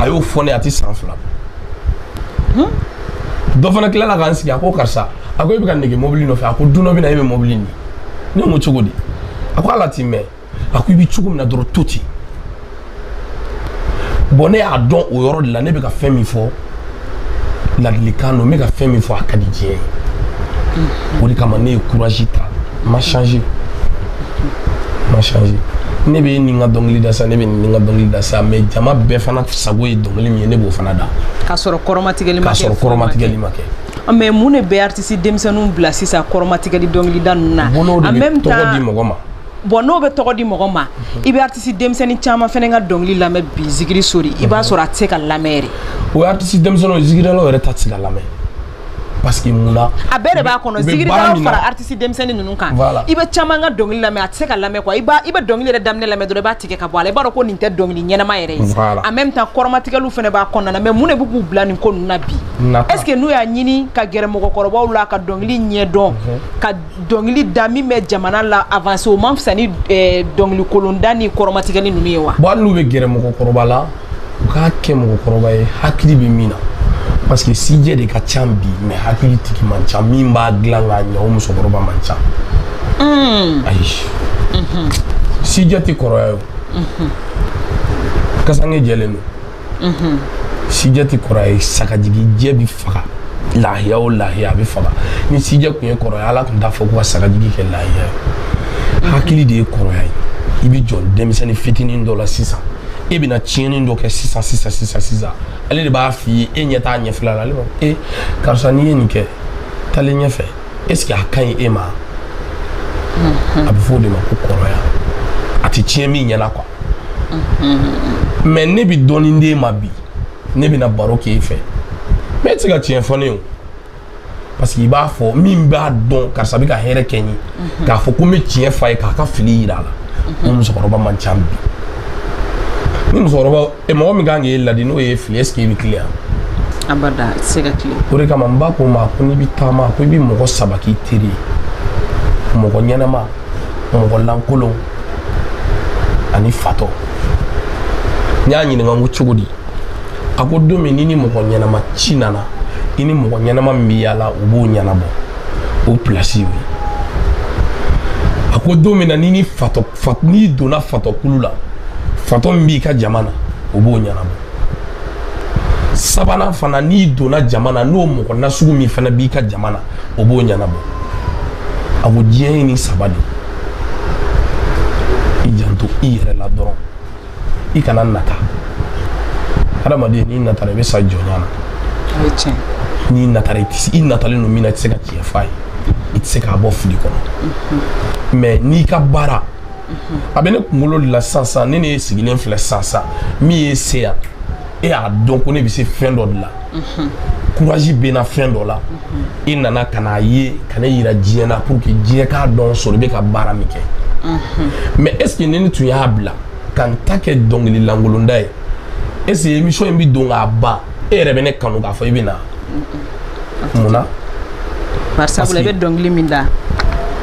Speaker 1: a y'o fɔ ne a tɛ san fila bɔ dɔ fana tilala ka n sigi a ko karisa a ko e bɛ ka nege mobili nɔfɛ a ko don dɔ bɛ na e bɛ mobili ni ne ko cogo di a ko ala t'i mɛn a ko i bɛ cogo min na dɔrɔn to ten bɔn ne y'a dɔn o yɔrɔ de la ne bɛ ka fɛn min fɔ ladilikan don n bɛ ka fɛn min fɔ a ka di diɲɛ ye o de kama ne ye courage ta n ma changer n ma changer ne bɛ nin ka dɔnkili da sa ne bɛ nin ka dɔnkili da sa mais jama bɛɛ fana sago ye dɔnkili min ye ne b'o fana da k'a sɔrɔ kɔrɔmatigɛli ma kɛ k'a sɔrɔ kɔrɔmatigɛli ma kɛ ah, mais mun de bɛ artiste denmisɛnninw bila sisan kɔrɔmatigɛli dɔnkilida ninnu na en même temps tɔgɔ di mɔgɔ ma bɔn n'o bɛ tɔgɔ di mɔgɔ ma i bɛ artisi denmisɛnnin caman fana ka dɔnkili lamɛn bi zikiri sori i b'a sɔrɔ a tɛ se ka lamɛn o artisi denmisɛnnin zikirilaw yɛrɛ ta tɛ se ka lamɛn parce que mun a bɛɛ de b'a kɔnɔ zikiri fara artisi denmisɛnnin ninnu kan i bɛ caman ka dɔnkili lamɛn a tɛ se ka lamɛn quoi i i bɛ dɔnkili yɛrɛ daminɛ lamɛn dɔrɔn i b'a tigɛ ka bɔ a i b'a dɔn ko nin tɛ dɔnkili ɲɛnama yɛrɛ ye en même temps kɔrɔmatigɛli fana b'a kɔnɔna mais mun de bɛ k'u bila nin ko na bi est ce que n'u y'a ɲini ka gɛrɛ mɔgɔkɔrɔbaw la ka dɔnkili ɲɛ dɔn dɔnkili da min bɛ jamana la avance o man fisa ni eh, dɔnkili kolonda ni kɔrɔmatigɛli ninnu ye wa bon hali n'u bɛ gɛrɛ mɔgɔkɔrɔba la u k'a kɛ mɔgɔkɔrɔba ye hakili bɛ min na parce que sijɛ de ka ca bi mais hakili tigi man ca min b'a dilan k'a ɲɛ o musokɔrɔba man ca hmm. ayi mhm. sijɛ tɛ kɔrɔya ye o mhm. kasange jɛlen don sijɛ tɛ kɔrɔ ye sagajigi jɛ bɛ faga lahiya o lahiya a bɛ faga ni sijɛ tun ye kɔrɔ ye ala tun t'a fɔ ko ka sagajigi kɛ lahiya ye hakili de ye kɔrɔya ye i bɛ jɔn denmisɛnnin fitinin dɔ la sisan e bɛna tiɲɛni dɔ kɛ sisan sisan sisan sisan ale de b'a f'i ye e ɲɛ t'a ɲɛfila la ale b'a fɔ e karisa n'i ye nin kɛ taalen ɲɛfɛ est-ce que a ka ɲi e ma a bɛ fɔ o de ma ko kɔrɔya a tɛ tiɲɛ min ɲɛna quoi mais ne bɛ dɔɔnin d'e ma bi ne bɛna baro k'e fɛ mais e tɛ se ka tiɲɛ fɔ ne ye o parce que i b'a fɔ min b'a dɔn karisa bɛ ka hɛrɛ kɛ n ye mhm. k'a fɔ ko n bɛ tiɲɛ f'a ye k'a ka fili yira a la mhm. o musokɔrɔba man ca bi ni musokɔrɔba e mɔgɔ min kan k'e ladi n'o y'i fili est ce que i bɛ tilen yan abada a tɛ se ka tilen o de kama n ba ko n ma ko n'i bɛ taama ko i bɛ mɔgɔ saba k'i teri ye mɔgɔ ɲɛnama mɔgɔ lankolon ani fatɔ n y'a ɲininka ko cogo di a ko don min ni ni mɔgɔ ɲɛnama ci nana i ni mɔgɔ ɲɛnama min bɛ yaala o b'o ɲɛnabɔ o pilasi y'o ye a ko don min na ni ni fatɔ fat n'i donna fatɔkulu la fatɔ min b'i ka jama na o b'o ɲɛnabɔ sabanan fana n'i donna jama na n'o mɔgɔ nasugu min fana b'i ka jama na o b'o ɲɛnabɔ a ko diɲɛ ye nin saba de ye i janto i yɛrɛ la dɔrɔn i kana nata hadamaden n'i natara i bɛ sa jɔnya na n'i natara i tɛ i natalen don min na i tɛ se ka tiɲɛ f'a ye i tɛ se k'a bɔ fili kɔnɔ mais n'i ka baara a bɛ ne kunkolo de la sisan sisan ne ne sigilen filɛ sisan sisan mun y'e se yan e y'a dɔn ko ne bɛ se fɛn dɔ de la courage bɛ n na fɛn dɔ la e nana ka n'a ye ka ne yira diɲɛ na pour que diɲɛ k'a dɔn Sori bɛ ka baara min kɛ mais est ce que ne ni tun y'a bila ka n ta kɛ dɔnkili lankolonda ye est ce que émission in bɛ don k'a ban e yɛrɛ bɛ ne kanu k'a fɔ i bɛ na mun na barisa i bɛ dɔnkili min da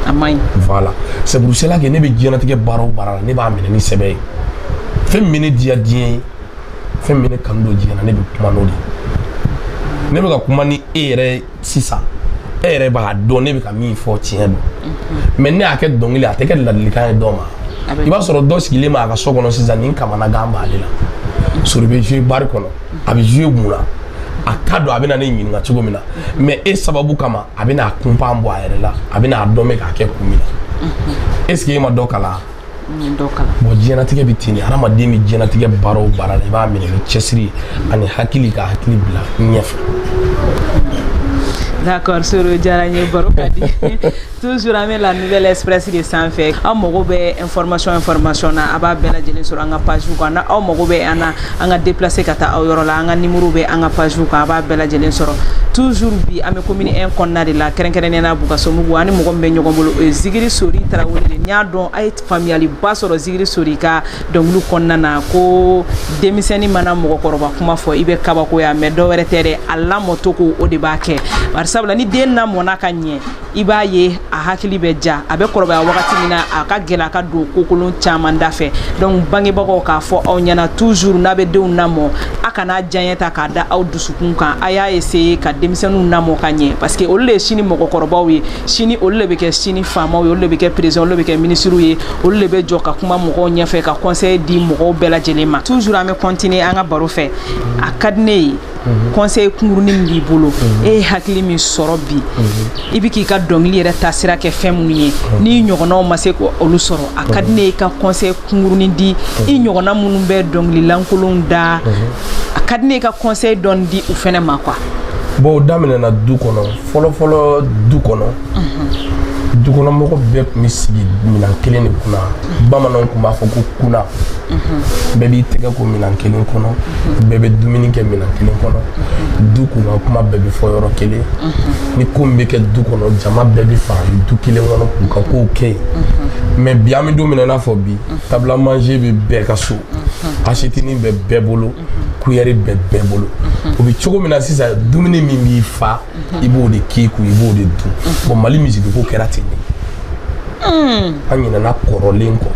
Speaker 1: a man ɲi voilà c'est pour cela que ne bɛ diɲɛlatigɛ baara o baara la ne b'a minɛ ni sɛbɛ ye fɛn min bɛ ne diya diɲɛ ye fɛn min ne kanu don diɲɛ na ne bɛ kuma n'o de ye ne bɛ ka kuma ni e yɛrɛ sisan e yɛrɛ b'a dɔn ne bɛ ka min fɔ tiɲɛ don mhm. mais ne y'a kɛ dɔnkili a tɛ kɛ ladilikan ye dɔ ma i b'a sɔrɔ dɔ sigilen b'a ka so kɔnɔ sisan ni kamanagan b'ale la mhm. Sori bɛ jouer bari kɔnɔ a bɛ jouer mun na a t'a dɔn a bɛna ne ɲininka cogo min na mhm. mais e sababu kama a bɛna a kunpa bɔ a yɛrɛ la a bɛna a dɔn n bɛ k'a kɛ kun min na est ce que e ma dɔ kalan bon diɲɛnatigɛ bɛ ten de hadamaden bɛ diɲɛnatigɛ baara o baara la i b'a minɛ ni cɛsiri ani hakili ka hakili bila ɲɛfɛ D'accord, Sori a diyara n ye baro ka di toujours an bɛ la Nouvelle Express de sanfɛ aw mago bɛ information information na a b'a bɛɛ lajɛlen sɔrɔ an ka page kan n'aw mago bɛ an na an ka déplacer ka taa aw yɔrɔ la an ka numéro bɛ an ka page kan a b'a bɛɛ lajɛlen sɔrɔ toujours bi an bɛ commune 1 kɔnɔna de la kɛrɛnkɛrɛnnenya na Bukasumbugu an ni mɔgɔ min bɛ ɲɔgɔn bolo o ye Zikiri Sori Tarawele de n y'a dɔn a ye faamuyaliba sɔrɔ Zikiri Sori ka dɔnkiliw kɔnɔna na ko denmisɛnnin mana mɔgɔkɔrɔba kuma fɔ i bɛ kabakoya mais dɔwɛrɛ tɛ dɛ a lamɔcogo o de b'a kɛ bari sabula ni den lamɔna ka ɲɛ i b'a ye a hakili bɛ ja a bɛ kɔrɔbaya wagati min na a ka gɛlɛn a ka don kokolon caman da fɛ donc bangebagaw k'a fɔ aw ɲɛna toujours n'a bɛ denw lamɔ a kana diyanye ta k'a da aw dusukun kan a y'a essayer ka denmisɛnninw lamɔ ka ɲɛ parce que olu de ye sini mɔgɔkɔrɔbaw ye sini olu de bɛ kɛ sini faamaw ye olu de bɛ kɛ président olu de bɛ kɛ ministres ye olu de bɛ jɔ ka kuma mɔgɔw ɲɛfɛ ka conseil di mɔgɔw bɛɛ lajɛlen ma toujours an bɛ continuer an ka baro fɛ a ka di ne ye Mhm. conseil kunkurunin min b'i bolo mhm. e ye hakili min sɔrɔ bi mhm. i bɛ k'i ka dɔnkili yɛrɛ taasira kɛ fɛn minnu ye n'i ɲɔgɔnnaw ma se k'olu sɔrɔ a ka di ne ye i ka conseil kunkurunin di i ɲɔgɔnna minnu bɛ dɔnkili lankolonw da a ka di ne ye i ka conseil dɔɔni di u fɛnɛ ma quoi. bon o daminɛna du kɔnɔ fɔlɔfɔlɔ du kɔnɔ dukɔnɔmɔgɔ bɛɛ tun bɛ sigi minan kelen de kunna bamananw tun b'a fɔ ko kuna mhm. bɛɛ b'i tɛgɛ ko minan kelen kɔnɔ mhm. bɛɛ bɛ dumuni kɛ minan kelen kɔnɔ mhm. du kun ka kuma bɛɛ bɛ fɔ yɔrɔ kelen ni ko min bɛ kɛ du kɔnɔ jama bɛɛ bɛ fara du kelen kɔnɔ k'u ka kow kɛ yen mais bi an bɛ don min na i n'a fɔ bi table à manger bɛ bɛɛ ka so asiyɛtinin bɛ bɛɛ bolo kuyɛri bɛ bɛɛ bolo o bɛ cogo min na sisan dumuni min b'i fa i b'o de k'i kun i b'o de dun bon Mali musique ko kɛra ten de hmm. an ɲinɛna kɔrɔlen kɔ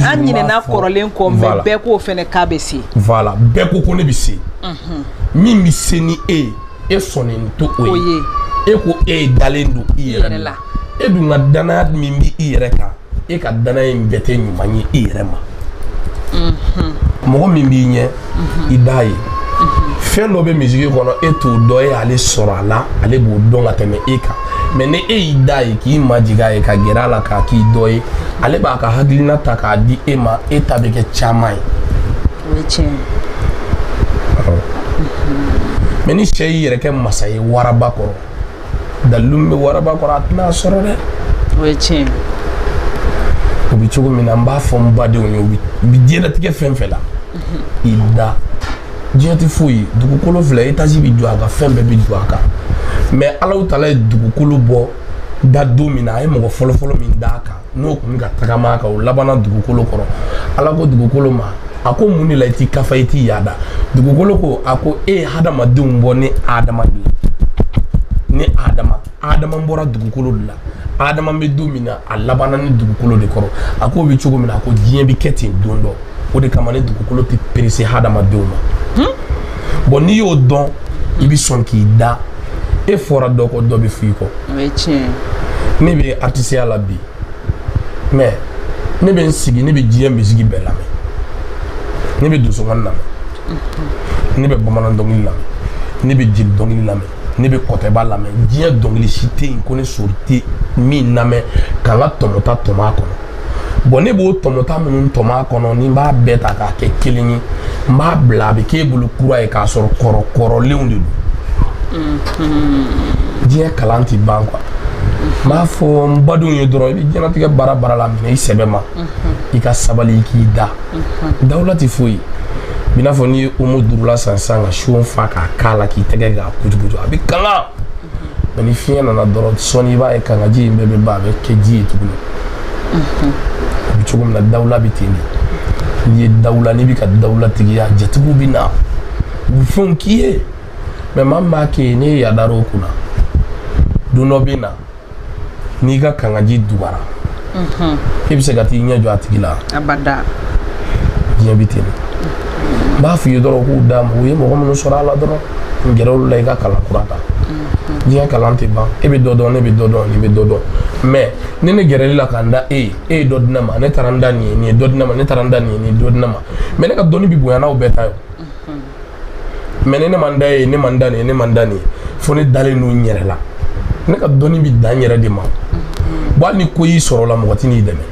Speaker 1: an ɲinɛna kɔrɔlen kɔ mais bɛɛ ko fɛnɛ k'a bɛ se voilà bɛɛ ko ko ne bɛ se min bɛ se ni e ye e sɔnnen tɛ o ye e ko e dalen don i yɛrɛ la e dun ka danaya min bɛ i yɛrɛ kan e ka danaya in bɛɛ tɛ ɲuman ye i yɛrɛ ma mɔgɔ min b'i ɲɛ i d'a ye fɛn dɔ bɛ musique kɔnɔ e t'o dɔn e y'ale sɔrɔ a la ale b'o dɔn ka tɛmɛ e kan mais ni e y'i d'a ye k'i majigin a ye ka gɛrɛ a la k'a k'i dɔ ye ale b'a ka hakilina ta k'a di e ma e ta bɛ kɛ caman ye mais ni sɛ y'i yɛrɛ kɛ masa ye waraba kɔrɔ dalilu min bɛ waraba kɔrɔ a tɛna sɔrɔ dɛ o ye tiɲɛ o bɛ cogo min na n b'a fɔ n badenw ye n'i bɛ diɲɛlatigɛ fɛn fɛn la i da diɲɛ tɛ foyi dugukolo filɛ étage bɛ jɔ a kan fɛn bɛɛ bɛ jɔ a kan mais Alahu tala ye dugukolo bɔ da don min na a ye mɔgɔ fɔlɔfɔlɔ min d'a kan n'o tun bɛ ka tagama ka o labanna dugukolo kɔrɔ ala ko dugukolo ma a ko mun de la i t'i kafa i t'i yaada dugukolo ko a ko e ye hadamadenw bɔ ni adama de ye ni adama adama bɔra dugukolo de la adama bɛ don min na a labanna ne dugukolo de kɔrɔ a k'o bɛ cogo min na a ko diɲɛ bɛ kɛ ten don dɔ o de kama ne dugukolo tɛ perese hadamadenw ma bɔn n'i y'o dɔn i bɛ sɔn k'i da e fɔra dɔ kɔ dɔ bɛ f'i kɔ ne bɛ artisiya la bi mɛ ne bɛ n sigi ne bɛ diɲɛ misigi bɛɛ lamɛn ne bɛ donsokan lamɛn mhm. ne bɛ bamanan dɔnkili lamɛn ne bɛ jeli dɔnkili lamɛn ne bɛ kɔtɛba lamɛn diɲɛ dɔnkili si tɛ yen ko ne sori tɛ min lamɛn ka n ka tɔmɔta tɔmɔ a kɔnɔ bɔn ne b'o tɔmɔta minnu tɔmɔ a kɔnɔ ni n b'a bɛɛ ta k'a kɛ kelen ye n b'a bila a bɛ k'e bolo kura ye k'a sɔrɔ kɔrɔ kɔrɔlenw de don mm-hmm. diɲɛ kalan tɛ ban kuwa n b'a fɔ n badenw ye dɔrɔn i bɛ diɲɛnatigɛ baara baara la minɛ i sɛbɛ ma mm-hmm. i ka sabali i k'i da mm-hmm. dawula tɛ foyi i n'a fɔ n'i ye omo duurula san sisan ka so fa k'a k'a la k'i tɛgɛ k'a kutukutu a bɛ kanga mɛ ni fiɲɛ nana dɔrɔn sɔɔni i b'a ye kangaji in bɛɛ bɛ ban a bɛ kɛ ji ye tuguni a bɛ cogo min na dawula bɛ ten de n'i ye dawula n'i bɛ ka dawulatigiya jatigiw bɛ na u bɛ fɛnw k'i ye mɛ maa min b'a kɛ ye n'e yadara o kunna don dɔ bɛ na n'i ka kangaji dugara e bɛ se ka t'i ɲɛ jɔ a tigi la diɲɛ bɛ ten de n b'a f'i ye dɔrɔn k'u d'a ma u ye mɔgɔ minnu sɔrɔ a la dɔrɔn n gɛrɛ olu la i ka kalan kura ta mhm. diɲɛ kalan tɛ ban e bɛ dɔ dɔn ne bɛ dɔ dɔn nin bɛ dɔ dɔn mɛ ni ne gɛrɛl'i la ka n da e ye e ye dɔ di ne ma ne taara n da nin ye nin ye dɔ di ne ma ne taara n da nin ye nin ye dɔ di ne ma mɛ ne ka dɔnni bɛ bonya n'aw bɛɛ ta ye mhm. mɛ ni ne ma n da e ye ne ma n da nin ye ne ma n da nin ye fo ne dalen don n yɛrɛ la ne ka dɔnni bɛ dan n yɛrɛ de ma mhm. wa hali ni ko y'i sɔrɔ la mɔgɔ tɛ n'i dɛmɛ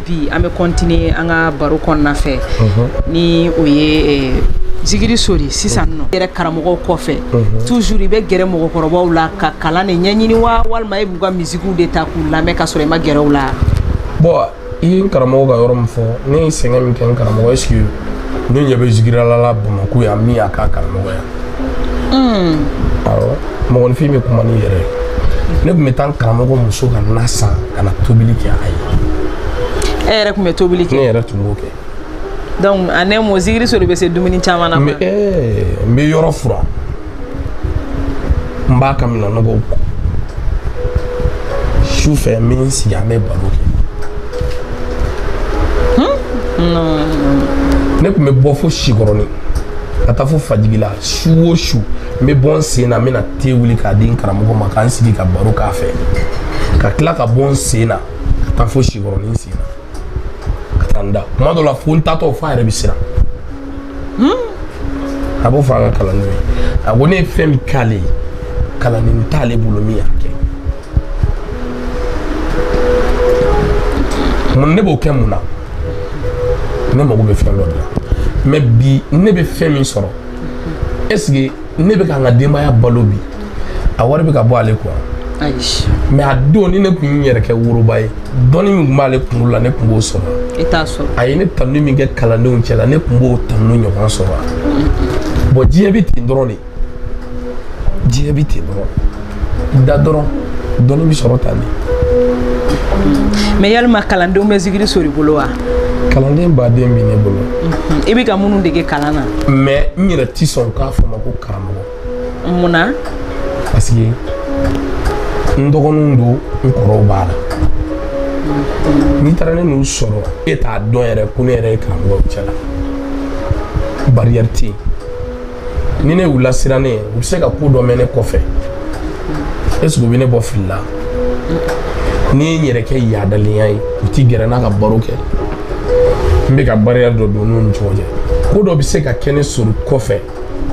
Speaker 1: Bi an bɛ continuer an ka baro kɔnɔna fɛ. Unhun. Ni o ye zikiri sori sisan nɔ. Yɛrɛ karamɔgɔw kɔfɛ. Unhun. Toujours i bɛ gɛrɛ mɔgɔkɔrɔbaw la ka kalan de ɲɛɲini wa walima e b'u ka musique de ta k'u lamɛn ka sɔrɔ i ma gɛrɛ u la? Bon i ye n karamɔgɔ ka yɔrɔ min fɔ, ne ye sɛgɛn min kɛ n karamɔgɔ est ce que ne ɲɛ bɛ zikirilala Bamakɔ yan min y'a k'a karamɔgɔ ye wa? mɔgɔninfin bɛ kuma ne yɛrɛ ne tun bɛ taa n karamɔgɔ muso ka na san ka na tobili kɛ a ye e yɛrɛ tun bɛ tobili kɛ ne yɛrɛ tun b'o kɛ donc en un mot zikiri sori bɛ se dumuni caman na n bɛ yɔrɔ fura n b'a ka minɛnnɔgɔw ko su fɛ n bɛ n sigi an bɛ baro kɛ ne tun bɛ bɔ fo sikɔrɔnin ka taa fo fajigila su o su n bɛ bɔ n sen na n bɛna te wuli k'a di n karamɔgɔ ma k'an sigi ka baro k'a fɛ ka tila ka bɔ n sen na ka taa fo sikɔrɔnin sen na ka taa n da kuma dɔ la fo n taatɔ f'a yɛrɛ bɛ siran a b'o fɔ a ka kalandenw ye a ko ne ye fɛn min k'ale ye kalanden t'ale bolo min y'a kɛ mun ne b'o kɛ mun na ne mago bɛ fɛn dɔ de la mais bi ne bɛ fɛn min sɔrɔ est-ce que ne bɛ ka n ka denbaya balo bi a wari bɛ ka bɔ ale kun wa mais a don ni ne tun y'i yɛrɛ kɛ woroba ye dɔnni min tun b'ale kunkolo la ne tun b'o sɔrɔ a ye ne tanu min kɛ kalandenw cɛ la ne tun b'o tanu ɲɔgɔn sɔrɔ bon diɲɛ bɛ ten dɔrɔn de diɲɛ bɛ ten dɔrɔn da dɔrɔn dɔnni bɛ sɔrɔ tan de. mais yalima kalandenw bɛ zikiri sori bolo wa. kalanden baden bɛ ne bolo. i bɛ ka minnu dege kalan na. mais n yɛrɛ ti sɔn k'a fɔ n ma ko karamɔgɔ. mun na. parce que n dɔgɔninw don n kɔrɔw b'a la. n'i taara ne n'u sɔrɔ e t'a dɔn yɛrɛ ko ne yɛrɛ ye karamɔgɔ cɛ la barrière tɛ yen. ni ne y'u lasiran ne ye u bɛ se ka ko dɔ mɛn ne kɔfɛ est-ce que u bɛ ne bɔ fili la ni n ye n yɛrɛ kɛ yaadalenya ye u ti gɛrɛ n na ka baro kɛ n bɛ ka barrière dɔ don n'u ni ɲɔgɔn cɛ ko dɔ bɛ se ka kɛ ne sɔrɔ kɔfɛ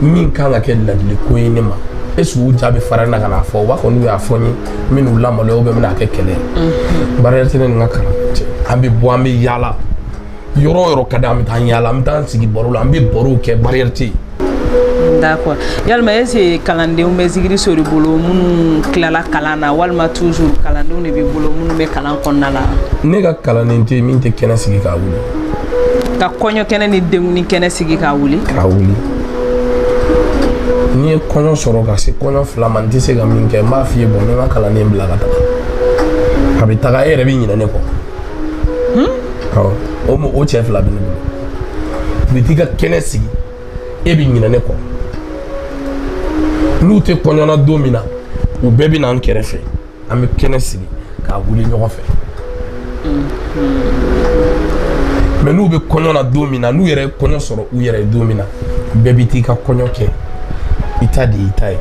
Speaker 1: min kan ka kɛ ladiliko ye ne ma est-ce que u ja bɛ farinya ka n'a fɔ u b'a fɔ n'u y'a fɔ n ye n bɛn'u lamaloya u bɛ n bɛna kɛ kɛlɛ ye barrière tɛ ne ni n ka kalandenw cɛ an bɛ bɔ an bɛ yaala yɔrɔ o yɔrɔ ka di an bɛ taa yaala an bɛ taa an sigi baro la an bɛ barow kɛ barrière tɛ yen. d'accord yalima est ce que kalandenw bɛ zikiri sori bolo minnu tilala kalan na walima toujours kalandenw de b'i bolo minnu bɛ kalan kɔnɔna la. ne ka kalanden tɛ yen min tɛ kɛnɛ sigi k'a wuli. ka kɔɲɔ kɛnɛ ni denkundi kɛnɛ sigi k'a wuli. k'a wuli n'i ye kɔɲɔ sɔrɔ ka se kɔɲɔ fila ma n tɛ se ka min kɛ n b'a f'i ye bon n bɛ n ka kalanden bila ka taga a bɛ taga e yɛrɛ bɛ ɲinɛ ne kɔ. hmm? o cɛ fila bɛ ne bolo u bɛ t'i ka kɛnɛ sigi e bɛ ɲinɛ ne kɔ n'u tɛ kɔɲɔ na don min na u bɛɛ bɛ na an kɛrɛfɛ an bɛ kɛnɛ sigi k'a wuli ɲɔgɔn fɛ hmm. mais n'u bɛ kɔɲɔ na don min na n'u yɛrɛ ye kɔɲɔ sɔrɔ u yɛrɛ ye don min na bɛɛ bɛ t'i ka kɔɲɔ kɛ i ta de y'i ta ye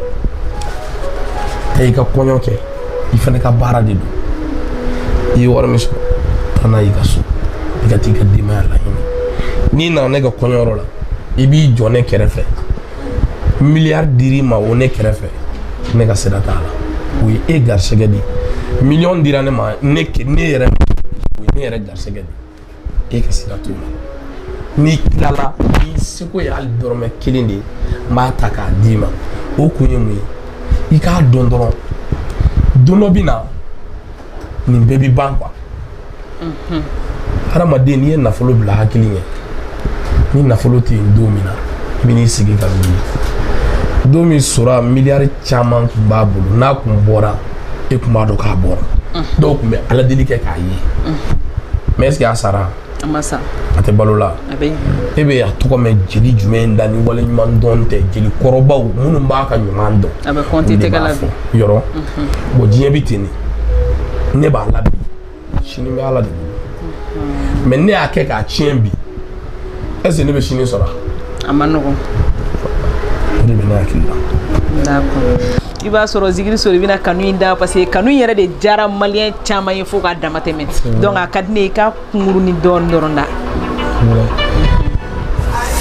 Speaker 1: taa i ka kɔɲɔ kɛ i fana ka baara de don i ye wari min sɔrɔ taa n'a y'i ka so i ka t'i ka denbaya lahinɛ n'i nana ne ka kɔɲɔyɔrɔ la i b'i jɔ ne kɛrɛfɛ miliyari dir'i ma o ne kɛrɛfɛ ne ka sira t'a la o ye e garisɛgɛ de ye miliyɔn dira ne ma ne ne yɛrɛ o ye ne yɛrɛ garisɛgɛ de ye e ka sira t'o la n'i tilala n'i seko ye hali dɔrɔmɛ kelen de ye n b'a ta k'a d'i ma o kun ye mun ye i k'a dɔn dɔrɔn don dɔ bɛ na nin bɛɛ bɛ ban quoi hadamaden n'i ye nafolo bila hakili ɲɛ ni nafolo tɛ yen don min na i bɛ n'i sigi ka wuli don min sara miliyari caman tun b'a bolo n'a tun bɔra e tun b'a dɔn k'a bɔra dɔw tun bɛ ala deli kɛ k'a ye mais est ce que a sara a ma sa a tɛ balo la a bɛ e bɛ a tɔgɔ mɛn jeli jumɛn da ni waleɲumandɔn tɛ jeli kɔrɔbaw minnu b'a ka ɲuman dɔn a bɛ olu kɔnti de tɛgɛ b'a la fɔ. bi yɔrɔ bon diɲɛ bɛ ten de ne b'a la bi sini bɛ ala de mais ne y'a kɛ k'a tiɲɛ bi est ce que ne bɛ sini sɔrɔ a ma nɔgɔ ne bɛ ne hakili la i b'a sɔrɔ zigiri sori i bɛna kanu in da parce que kanu in yɛrɛ de diyara maliyɛn caman ye fo k'a dama tɛmɛ donc a ka di ne ye i ka kunkuruni dɔɔni dɔrɔn da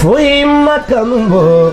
Speaker 1: foyi ma kanu bɔ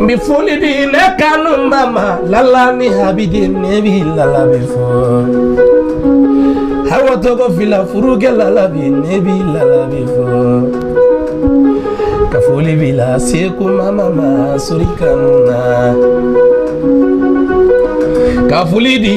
Speaker 1: n bɛ foli di ne kanubaa ma lala ni habidi ne bi lala bi fɔ awa tɔgɔ fila furukɛ lala bi ne bi lala bi fɔ ka foli b'i la seku mama ma sori kanu na ka foli di